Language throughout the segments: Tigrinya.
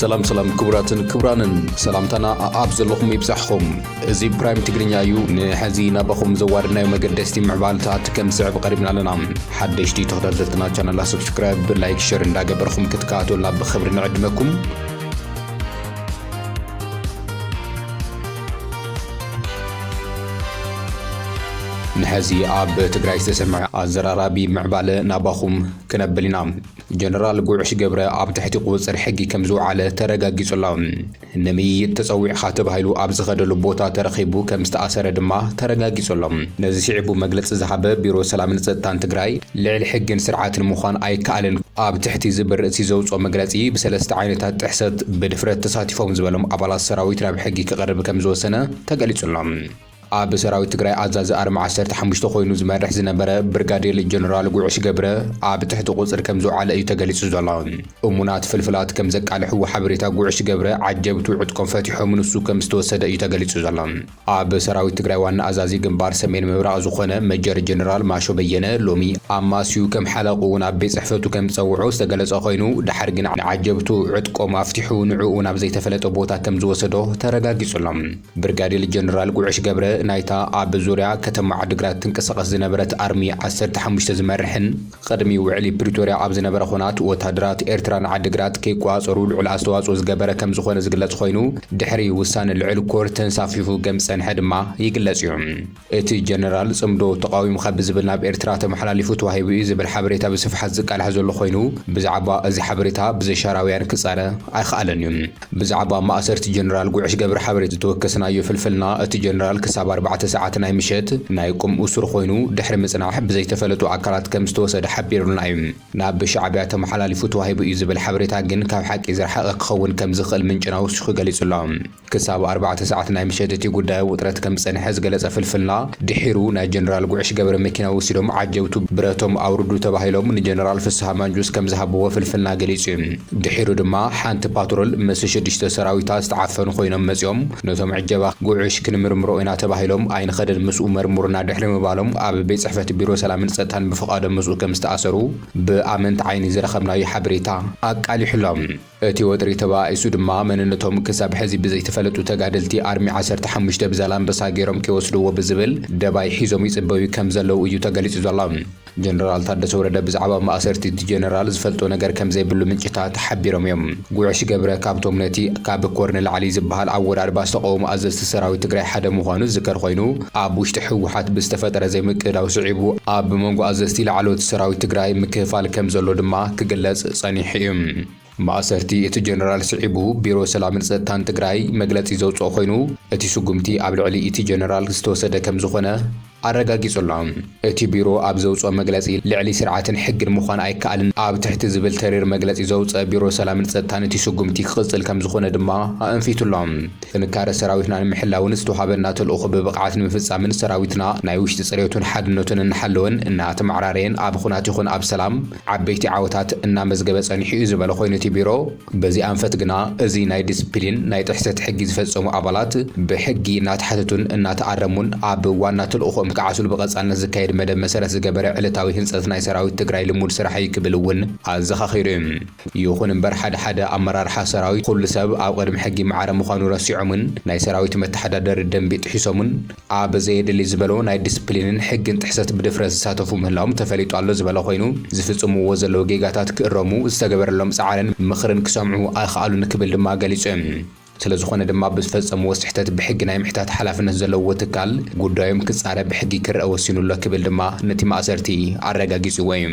ሰላም ሰላም ክቡራትን ክቡራንን ሰላምታና ኣኣብ ዘለኹም ይብጻሕኹም እዚ ፕራይም ትግርኛ እዩ ንሐዚ ናባኹም ዘዋርድናዮ መገደስቲ ምዕባልታት ከም ዝስዕብ ቀሪብና ኣለና ሓደሽቲ ተኸታተልትና ቻናላ ሰብስክራይብ ላይክ ሸር እንዳገበርኹም ክትከታተሉና ብኽብሪ ንዕድመኩም ንሐዚ ኣብ ትግራይ ዝተሰምዐ ኣዘራራቢ ምዕባለ ናባኹም ክነብል ኢና። ጀነራል ጉዕሽ ገብረ ኣብ ትሕቲ ቁፅፅር ሕጊ ከምዝውዓለ ተረጋጊፁ ኣሎ። ንምይይጥ ተፀዊዕኻ ተባሂሉ ኣብ ዝኸደሉ ቦታ ተረኺቡ ከምዝተኣሰረ ድማ ተረጋጊፁ ኣሎ። ነዚ ስዒቡ መግለፂ ዝሃበ ቢሮ ሰላምን ፀጥታን ትግራይ ልዕሊ ሕግን ስርዓትን ምዃን ኣይከኣልን፣ ኣብ ትሕቲ እዚ ብርእሲ ዘውጽኦ መግለጺ፣ ብሰለስተ ዓይነታት ጥሕሰት ብድፍረት ተሳቲፎም ዝበሎም ኣባላት ሰራዊት ናብ ሕጊ ክቐርብ ከምዝወሰነ ተገሊጹ ኣሎ። ኣብ ሰራዊት ትግራይ ኣዛዚ ኣርሚ ዓሰርተ ሓሙሽተ ኮይኑ ዝመርሕ ዝነበረ ብርጋዴል ጀነራል ጉዕሽ ገብረ ኣብ ትሕቲ ቁጽሪ ከምዝውዓለ እዩ ተገሊጹ ዘሎ። እሙናት ፍልፍላት ከምዘቃልሕዎ ሓበሬታ ጉዕሽ ገብረ ዓጀብቱ ዕጥቆም ፈቲሖም ንሱ ከምዝተወሰደ እዩ ተገሊጹ ዘሎ። ኣብ ሰራዊት ትግራይ ዋና ኣዛዚ ግንባር ሰሜን ምብራቕ ዝኾነ መጀር ጀነራል ማሾ በየነ ሎሚ ኣማስዩ ከም ሓለቕኡ ናብ ቤት ጽሕፈቱ ከም ዝጸውዖ ዝተገለጸ ኮይኑ ደሓር ግን ንዓጀብቱ ዕጥቆም ኣፍቲሑ ንዕኡ ናብ ዘይተፈለጠ ቦታ ከም ዝወሰዶ ተረጋጊጹ ኣሎ። ብርጋዴል ጀነራል ጉዕሽ ገብረ ናይታ ኣብ ዙርያ ከተማ ዓዲግራት ትንቀሳቐስ ዝነበረት ኣርሚ ዓሰርተ ሓሙሽተ ዝመርሕን፣ ቕድሚ ውዕሊ ፕሪቶርያ ኣብ ዝነበረ ኹናት ወታደራት ኤርትራ ንዓዲግራት ከይቆፃፀሩ ልዑል ኣስተዋፅኦ ዝገበረ ከምዝኾነ ዝግለፅ ኾይኑ ድሕሪ ውሳነ ልዕል ኮር ተንሳፊፉ ገምዝፀንሐ ድማ ይግለፅ እዩ። እቲ ጀነራል ፅምዶ ተቓዊምኻ ብዝብል ናብ ኤርትራ ተመሓላሊፉ ተዋሂቡ እዩ ዝብል ሓበሬታ ብስፍሓት ዝቃላሕ ዘሎ ኾይኑ ብዛዕባ እዚ ሓበሬታ ብዘሻራውያን ክፃረ ኣይኸኣለን እዩ። ብዛዕባ ማእሰርቲ ጀነራል ጉዕሽ ገብረ ሓበሬት ዝተወከስናዮ ፍልፍልና፣ እቲ ጀነራል ክሳብ ኣርባዕተ ሰዓት ናይ ምሸት ናይ ቁም እሱር ኮይኑ ድሕሪ ምጽናሕ ብዘይተፈለጡ ኣካላት ከም ዝተወሰደ ሓቢሩልና እዩ። ናብ ሻዕቢያ ተመሓላሊፉ ተዋሂቡ እዩ ዝብል ሓበሬታ ግን ካብ ሓቂ ዝረሓቐ ክኸውን ከም ዝኽእል ምንጭና ወሲኹ ገሊጹ ኣሎ። ክሳብ ኣርባዕተ ሰዓት ናይ ምሸት እቲ ጉዳይ ኣብ ውጥረት ከም ዝጸንሐ ዝገለጸ ፍልፍልና፣ ድሒሩ ናይ ጀነራል ጉዕሽ ገብረ መኪና ወሲዶም ዓጀብቱ ብረቶም ኣውርዱ ተባሂሎም ንጀነራል ፍስሃ ማንጁስ ከም ዝሃብዎ ፍልፍልና ገሊጹ እዩ። ድሒሩ ድማ ሓንቲ ፓትሮል ምስ ሽዱሽተ ሰራዊታ ዝተዓፈኑ ኮይኖም መጺኦም ነቶም ዕጀባ ጉዕሽ ክንምርምሮ ኢና ተባሂሎም ኣይንኸድን ምስኡ መርሙሩና ድሕሪ ምባሎም ኣብ ቤት ጽሕፈት ቢሮ ሰላምን ጸጥታን ብፍቓዶም ምስኡ ከም ዝተኣሰሩ ብኣመንቲ ዓይኒ ዝረኸብናዮ ሓበሬታ ኣቃሊሑ ኣሎ። እቲ ወጥሪ ተበኣኢሱ ድማ መንነቶም ክሳብ ሕዚ ብዘይተፈለጡ ተጋደልቲ ኣርሚ ዓሰርተ ሓሙሽተ ብዛላምበሳ ገይሮም ከይወስድዎ ብዝብል ደባይ ሒዞም ይጽበዩ ከም ዘለዉ እዩ ተገሊጹ ዘሎ። ጀነራል ታደሰ ወረደ ብዛዕባ ማእሰርቲ እቲ ጀነራል ዝፈልጦ ነገር ከምዘይብሉ ምንጭታት ሓቢሮም እዮም። ጉዕሽ ገብረ ካብቶም ነቲ ካብ ኮር ንላዕሊ ዝበሃል ኣወዳድባ ዝተቐወሙ ኣዘዝቲ ሰራዊት ትግራይ ሓደ ምዃኑ ዝዝከር ኮይኑ፣ ኣብ ውሽጢ ህወሓት ብዝተፈጠረ ዘይምቅድዳው ስዒቡ ኣብ መንጎ ኣዘዝቲ ላዕለዎት ሰራዊት ትግራይ ምክፍፋል ከምዘሎ ድማ ክግለፅ ፀኒሑ እዩ። ማእሰርቲ እቲ ጀነራል ስዒቡ ቢሮ ሰላምን ፀጥታን ትግራይ መግለፂ ዘውፅኦ ኮይኑ እቲ ስጉምቲ ኣብ ልዕሊ እቲ ጀነራል ዝተወሰደ ከምዝኾነ ኣረጋጊፁ ኣሎ። እቲ ቢሮ ኣብ ዘውፅኦ መግለፂ ልዕሊ ስርዓትን ሕግን ምዃን ኣይከኣልን ኣብ ትሕቲ ዝብል ተሪር መግለፂ ዘውፀ ቢሮ ሰላምን ፀጥታን እቲ ስጉምቲ ክቕፅል ከምዝኾነ ድማ ኣእንፊቱ ኣሎ። ጥንካረ ሰራዊትና ንምሕላውን ዝተውሃበና ተልእኾ ብብቕዓት ንምፍፃምን ሰራዊትና ናይ ውሽጢ ፅሬቱን ሓድነቱን እናሓለወን እናተመዓራረየን ኣብ ኹናት ይኹን ኣብ ሰላም ዓበይቲ ዓወታት እናመዝገበ ፀኒሑ'ዩ ዝበለ ኮይኑ እቲ ቢሮ፣ በዚ ኣንፈት ግና እዚ ናይ ዲስፕሊን ናይ ጥሕሰት ሕጊ ዝፈፀሙ ኣባላት ብሕጊ እናተሓተቱን እናተኣረሙን ኣብ ዋና ተልእኾኦም ክዓስሉ ብቐፃልነት ዝካየድ መደብ መሰረት ዝገበረ ዕለታዊ ህንፀት ናይ ሰራዊት ትግራይ ልሙድ ስራሕ እዩ ክብል እውን ኣዘኻኺሩ እዩ። ይኹን እምበር ሓደ ሓደ ኣመራርሓ ሰራዊት ኹሉ ሰብ ኣብ ቕድሚ ሕጊ ማዕረ ምዃኑ ረሲዖምን ናይ ሰራዊት መተሓዳደሪ ደንቢ ጥሒሶምን፣ ኣብ ዘየድሊ ዝበሎ ናይ ዲስፕሊንን ሕግን ጥሕሰት ብድፍረት ዝሳተፉ ምህላዎም ተፈሊጡ ኣሎ ዝበለ ኮይኑ፣ ዝፍጽምዎ ዘለዉ ጌጋታት ክእረሙ ዝተገበረሎም ጻዕርን ምኽርን ክሰምዑ ኣይኸኣሉን ክብል ድማ ገሊጹ። ስለዝኾነ ድማ ብዝፈጸምዎ ስሕተት ብሕጊ ናይ ምሕታት ሓላፍነት ዘለዎ ትካል ጉዳዮም ክጻረ ብሕጊ ክረኣ ወሲኑ ኣሎ ክብል ድማ ነቲ ማእሰርቲ ኣረጋጊጽዎ እዩ።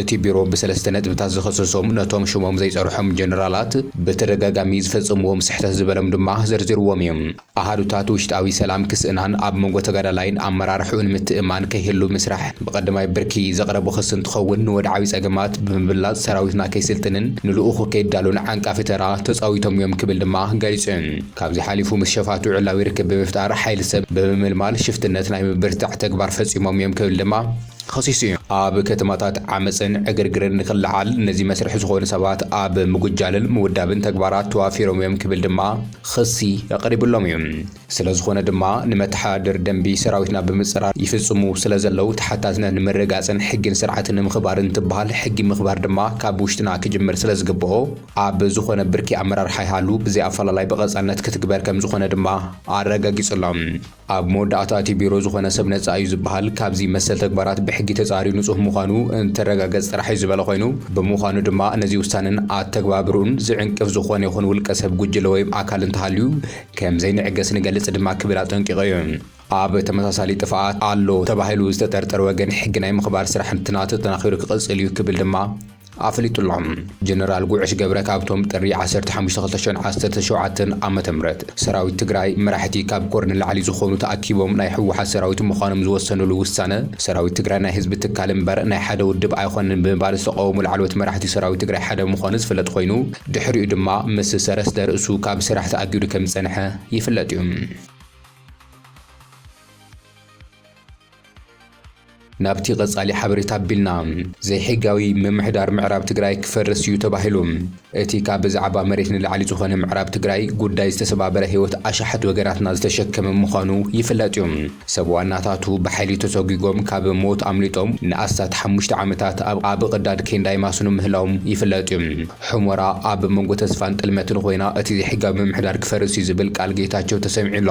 እቲ ቢሮ ብሰለስተ ነጥብታት ዝኸሰሶም ነቶም ሽሞም ዘይጸርሖም ጀነራላት ብተደጋጋሚ ዝፈጸምዎም ስሕተት ዝበሎም ድማ ዘርዚርዎም እዩ። ኣሃዱታት ውሽጣዊ ሰላም ክስእናን ኣብ መንጎ ተጋዳላይን ኣመራርሕኡን ምትእምማን ከይህሉ ምስራሕ ብቐዳማይ ብርኪ ዘቕረቦ ክሲ እንትኸውን ንወድዓዊ ጸገማት ብምብላጽ ሰራዊትና ከይስልጥንን ንልኡኹ ከይዳሎን ዓንቃፊ ተራ ተጻዊቶም እዮም ክብል ድማ ገሊጹ። ካብዚ ሓሊፉ ምስ ሸፋቱ ዕላዊ ርክብ ብምፍጣር ሓይሊ ሰብ ብምምልማል ሽፍትነት ናይ ምብርትታዕ ተግባር ፈጺሞም እዮም ክብል ድማ ኸሲሱ እዩ። ኣብ ከተማታት ዓመጽን ዕግርግርን ንክለዓል ነዚ መስርሒ ዝኾኑ ሰባት ኣብ ምጉጃልን ምውዳብን ተግባራት ተዋፊሮም እዮም ክብል ድማ ኽሲ ቐሪብሎም እዩ። ስለዝኾነ ድማ ንመተሓዳድር ደንቢ ሰራዊትና ብምጽራር ይፍጽሙ ስለዘለው ተሓታትነት ንምርግጋጽን ሕግን ስርዓትን ንምኽባር እንትበሃል ሕጊ ምኽባር ድማ ካብ ውሽጥና ክጅምር ስለዝግበኦ ኣብ ዝኾነ ብርኪ ኣመራርሓ ይሃሉ ብዘይኣፈላላይ ብቐጻልነት ክትግበር ከምዝኾነ ድማ ኣረጋጊጹሎም። ኣብ መወዳእታ እቲ ቢሮ ዝኾነ ሰብ ነጻ እዩ ዝበሃል ካብዚ መሰል ተግባራት ብሕጊ ተጻርዩ ንጹህ ምዃኑ እንትረጋገጽ ጥራሕ እዩ ዝበለ ኮይኑ ብምዃኑ ድማ ነዚ ውሳነን ኣተግባብርኡን ዝዕንቅፍ ዝኾነ ይኹን ውልቀ ሰብ ጉጅለ ወይም ኣካል እንተሃልዩ ከምዘይንዕገስ ንገልጽ ድማ ክብል ኣጠንቂቑ እዩ። ኣብ ተመሳሳሊ ጥፍኣት ኣሎ ተባሂሉ ዝተጠርጠረ ወገን ሕጊ ናይ ምኽባር ስራሕ እንትናቱ ተጠናኺሩ ክቕጽል እዩ ክብል ድማ ኣፍሊጡ ኣሎ። ጀነራል ጉዕሽ ገብረ ካብቶም ጥሪ ዓሰርተ ሓሙሽተ ክልተ ሽሕን ዓሰርተ ሸውዓተን ዓመተ ምህረት ሰራዊት ትግራይ መራሕቲ ካብ ኮር ንላዕሊ ዝኾኑ ተኣኪቦም ናይ ህወሓት ሰራዊት ምዃኖም ዝወሰንሉ ውሳነ ሰራዊት ትግራይ ናይ ህዝቢ ትካል እምበር ናይ ሓደ ውድብ ኣይኾነን ብምባል ዝተቓወሙ ላዕለዎት መራሕቲ ሰራዊት ትግራይ ሓደ ምዃኑ ዝፍለጥ ኾይኑ ድሕሪኡ ድማ ምስ ሰረስደ ርእሱ ካብ ስራሕ ተኣጊዱ ከምዝፀንሐ ይፍለጥ እዩ። ናብቲ ቀጻሊ ሓበሬታ ኣቢልና፣ ዘይሕጋዊ ምምሕዳር ምዕራብ ትግራይ ክፈርስ እዩ ተባሂሉ። እቲ ካብ ብዛዕባ መሬት ንላዕሊ ዝኾነ ምዕራብ ትግራይ ጉዳይ ዝተሰባበረ ህይወት ኣሽሓት ወገናትና ዝተሸከመ ምዃኑ ይፍለጥ እዩ። ሰብ ዋናታቱ ብሓይሊ ተሰጒጎም ካብ ሞት ኣምሊጦም ንኣስታት ሓሙሽተ ዓመታት ኣብ ኣብ ቕዳድ ኬንዳ ይማስኑ ምህላዎም ይፍለጥ እዩ። ሑመራ ኣብ መንጎ ተስፋን ጥልመትን ኾይና እቲ ዘይሕጋዊ ምምሕዳር ክፈርስ እዩ ዝብል ቃል ጌታቸው ተሰሚዑ ኣሎ።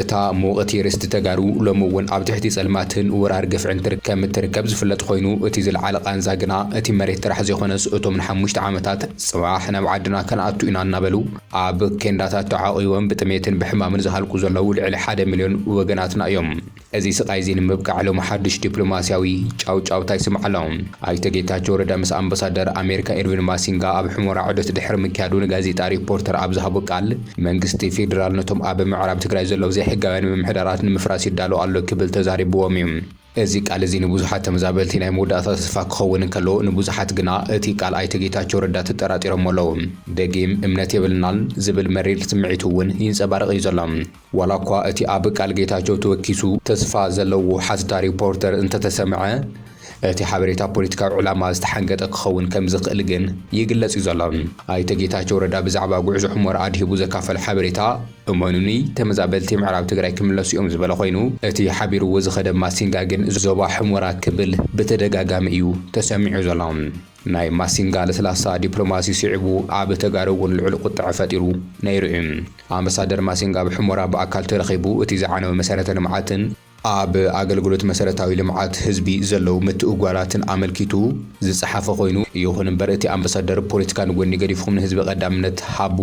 እታ ምውቕቲ ርስቲ ተጋሩ ሎሚ እውን ኣብ ትሕቲ ጸልማትን ወራር ግፍዕን ትርከብ ምትርከብ ዝፍለጥ ኮይኑ እቲ ዝለዓለ ቃንዛ ግና እቲ መሬት ጥራሕ ዘይኮነስ እቶም ንሓሙሽተ ዓመታት ጽባሕ ናብ ዓድና ከንኣቱ ኢና እናበሉ ኣብ ኬንዳታት ተዓቑቦም ብጥሜትን ብሕማምን ዝሃልቁ ዘለዉ ልዕሊ ሓደ ሚልዮን ወገናትና እዮም። እዚ ስቓይ እዚ ንምብቃዕ ሎሚ ሓዱሽ ዲፕሎማሲያዊ ጫውጫውታ ይስማዕ ኣሎ። ኣይተ ጌታቸው ረዳ ምስ ኣምበሳደር ኣሜሪካ ኢርቪን ማሲንጋ ኣብ ሑመራ ዑደት ድሕሪ ምክያዱ ንጋዜጣ ሪፖርተር ኣብ ዝሃቦ ቃል፣ መንግስቲ ፌዴራል ነቶም ኣብ ምዕራብ ትግራይ ዘለዉ ዘይሕጋውያን ምምሕዳራት ንምፍራስ ይዳሎ ኣሎ ክብል ተዛሪብዎም እዩ። እዚ ቃል እዚ ንብዙሓት ተመዛበልቲ ናይ መወዳእታ ተስፋ ክኸውን እንከሎ ንብዙሓት ግና እቲ ቃል ኣይተ ጌታቸው ረዳ ተጠራጢሮሞ ኣለዉ። ደጊም እምነት የብልናን ዝብል መሪር ስምዒቱ እውን ይንፀባረቕ እዩ ዘሎ። ዋላ እኳ እቲ ኣብ ቃል ጌታቸው ተወኪሱ ተስፋ ዘለዎ ሓስዳ ሪፖርተር እንተተሰምዐ፣ እቲ ሓበሬታ ፖለቲካዊ ዕላማ ዝተሓንገጠ ክኸውን ከም ዝኽእል ግን ይግለጽ እዩ ዘሎ። ኣይተ ጌታቸው ረዳ ብዛዕባ ጉዕዞ ሑመራ ኣድሂቡ ዘካፈሎ ሓበሬታ እመኑኒ ተመዛበልቲ ምዕራብ ትግራይ ክምለሱ እዮም ዝበለ ኮይኑ እቲ ሓቢርዎ ዝኸደ ማሲንጋ ግን ዞባ ሑመራ ክብል ብተደጋጋሚ እዩ ተሰሚዑ ዘሎ። ናይ ማሲንጋ ለስላሳ ዲፕሎማሲ ስዒቡ ኣብ ተጋሩ እውን ልዑል ቁጥዐ ፈጢሩ ነይሩ እዩ። ኣምባሳደር ማሲንጋ ኣብ ሑመራ ብኣካል ተረኺቡ እቲ ዝዓነወ መሰረተ ልምዓትን፣ ኣብ ኣገልግሎት መሰረታዊ ልምዓት ህዝቢ ዘለዉ ምትእጉጓላትን ኣመልኪቱ ዝጸሓፈ ኮይኑ፣ ይኹን እምበር እቲ ኣምበሳደር ፖለቲካ ንጎኒ ገዲፍኹም ንህዝቢ ቀዳምነት ሃቡ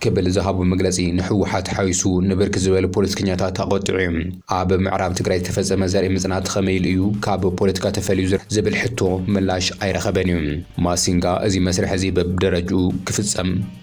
ክብል ዝሃቦ መግለጺ ንህወሓት ሓዊሱ ንብርክት ዝበሉ ፖለቲከኛታት ኣቖጢዑ ዩ። ኣብ ምዕራብ ትግራይ ዝተፈጸመ ዘርኢ ምጽናት ኸመይ ኢሉ ዩ ካብ ፖለቲካ ተፈልዩ ዝብል ሕቶ ምላሽ ኣይረኸበን ዩ። ማሲንጋ እዚ መስርሕ እዚ በብደረጅኡ ክፍጸም፣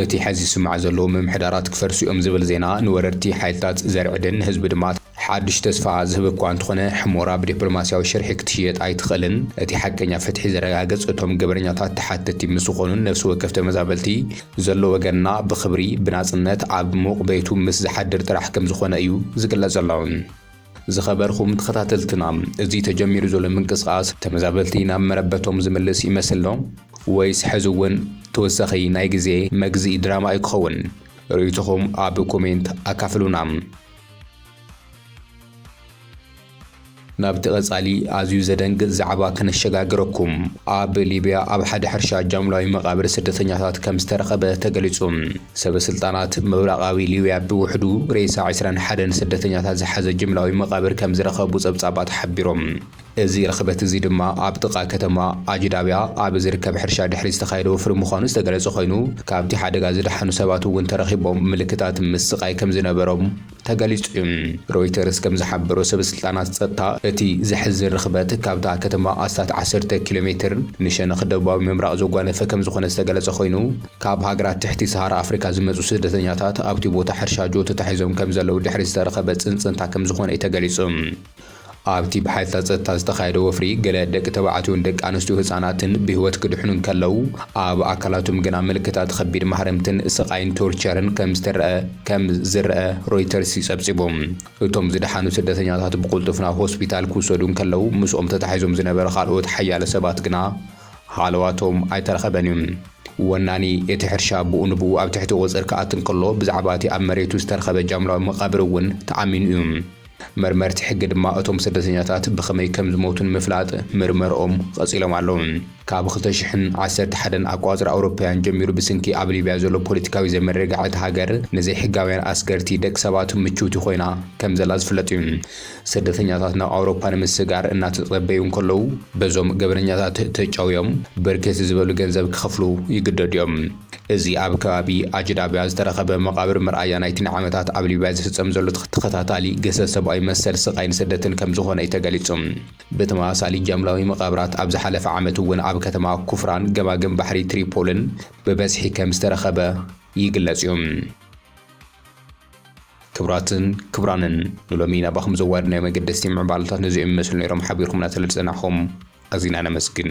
እቲ ሐዚ ዝስማዕ ዘሎ ምምሕዳራት ክፈርሱ እዮም ዝብል ዜና ንወረርቲ ሓይልታት ዘርዕድን ንህዝቢ ድማ ሓዱሽ ተስፋ ዝህብ እኳ እንተኾነ ሕሞራ ብዲፕሎማሲያዊ ሽርሒ ክትሽየጥ ኣይትኽእልን። እቲ ሓቀኛ ፍትሒ ዘረጋግፅ እቶም ገበነኛታት ተሓተቲ ምስ ዝኾኑን ነፍሲ ወከፍ ተመዛበልቲ ዘሎ ወገንና ብኽብሪ ብናፅነት ኣብ ሙቕ ቤቱ ምስ ዝሓድር ጥራሕ ከምዝኾነ እዩ ዝግለፅ ዘሎ። ዝኸበርኹም ተኸታተልትና እዚ ተጀሚሩ ዘሎ ምንቅስቓስ ተመዛበልቲ ናብ መረበቶም ዝምልስ ይመስልዶ ወይስ ሕዚ እውን ተወሳኺ ናይ ግዜ መግዝኢ ድራማ እዩ ክኸውን? ርእይቶኹም ኣብ ኮሜንት ኣካፍሉና። ናብቲ ቀጻሊ ኣዝዩ ዘደንግጽ ዛዕባ ከነሸጋግረኩም። ኣብ ሊብያ ኣብ ሓደ ሕርሻ ጃምላዊ መቓብር ስደተኛታት ከም ዝተረኸበ ተገሊጹ። ሰበስልጣናት ምብራቓዊ ሊብያ ብውሕዱ ሬሳ ዕስራን ሓደን ስደተኛታት ዝሓዘ ጅምላዊ መቓብር ከም ዝረኸቡ ጸብጻባት ሓቢሮም። እዚ ርኽበት እዚ ድማ ኣብ ጥቓ ከተማ ኣጅዳብያ ኣብ ዝርከብ ሕርሻ ድሕሪ ዝተኻየደ ወፍሪ ምዃኑ ዝተገለጸ ኮይኑ፣ ካብቲ ሓደጋ ዝደሓኑ ሰባት እውን ተረኺቦም ምልክታት ምስቓይ ከም ዝነበሮም ተገሊጹ እዩ። ሮይተርስ ከም ዝሓበሮ ሰበስልጣናት ጸጥታ እቲ ዘሕዝን ርኽበት ካብታ ከተማ ኣስታት ዓሰርተ ኪሎ ሜትር ንሸነኽ ደቡባዊ ምብራቕ ዘጓነፈ ከም ዝኾነ ዝተገለጸ ኮይኑ ካብ ሃገራት ትሕቲ ሰሃራ ኣፍሪካ ዝመጹ ስደተኛታት ኣብቲ ቦታ ሕርሻ ጆቶ ተታሒዞም ከም ዘለዉ ድሕሪ ዝተረኸበ ጽንጽንታ ከም ዝኾነ እዩ ተገሊጹ። ኣብቲ ብሓይልታት ጸጥታ ዝተኻየደ ወፍሪ፣ ገለ ደቂ ተባዕትዮን ደቂ ኣንስትዮ ህጻናትን ብህይወት ክድሕኑ እንከለዉ፣ ኣብ ኣካላቶም ግና ምልክታት ኸቢድ ማህረምትን ስቓይን፣ ቶርቸርን፣ ከም ዝተረኣ ከም ዝረኣ ሮይተርስ ጸብጺቡ። እቶም ዝደሓኑ ስደተኛታት ብቕልጡፍ ናብ ሆስፒታል ክውሰዱ እንከለዉ፣ ምስኦም ተታሒዞም ዝነበረ ኻልኦት ሓያሎ ሰባት ግና ሃለዋቶም ኣይተረኸበን እዩ። ወናኒ እቲ ሕርሻ ብኡ ንብኡ ኣብ ትሕቲ ቑጽሪ ክኣቱ እንከሎ፣ ብዛዕባ እቲ ኣብ መሬቱ ዝተረኸበ ጃምላዊ መቓብር እውን ተኣሚኑ እዩ። መርመርቲ ሕጊ ድማ እቶም ስደተኛታት ብኸመይ ከም ዝሞቱ ንምፍላጥ ምርመርኦም ቐጺሎም ኣለዉ። ካብ ክልተ ሽሕን ዓሰርተ ሓደን ኣቆጻጽራ ኣውሮፓውያን ጀሚሩ ብስንኪ ኣብ ሊብያ ዘሎ ፖለቲካዊ ዘይምርግጋዕ እታ ሃገር ንዘይሕጋውያን ኣስገርቲ ደቂ ሰባት ምችውቲ ኮይና ከም ዘላ ዝፍለጥ እዩ። ስደተኛታት ናብ ኣውሮፓ ንምስግጋር እናተጸበዩ እንከለዉ በዞም ገበነኛታት ተጨውዮም ብርክት ዝበሉ ገንዘብ ክኸፍሉ ይግደዱ እዮም። እዚ ኣብ ከባቢ ኣጅዳብያ ዝተረኸበ መቓብር መርኣያ ናይቲ ንዓመታት ኣብ ሊብያ ዝፍጸም ዘሎ ተኸታታሊ ግህሰት ሰብኣዊ መሰል፣ ስቓይን ስደትን ከም ዝኾነ'ዩ ተገሊጹ። ብተመሳሳሊ ጃምላዊ መቓብራት ኣብ ዝሓለፈ ዓመት'ውን ኣብ ከተማ ኩፍራን ገማግም ባሕሪ ትሪፖልን ብበዝሒ ከም ዝተረኸበ ይግለጽ'ዩ። ክብራትን ክብራንን ንሎሚ ናባኹም ዘዋድናዮ መገደስቲ ምዕባለታት ነዚኦም ይመስሉ ነይሮም ሓቢርኩምና ስለዝጸናሕኩም ኣዚና ነመስግን።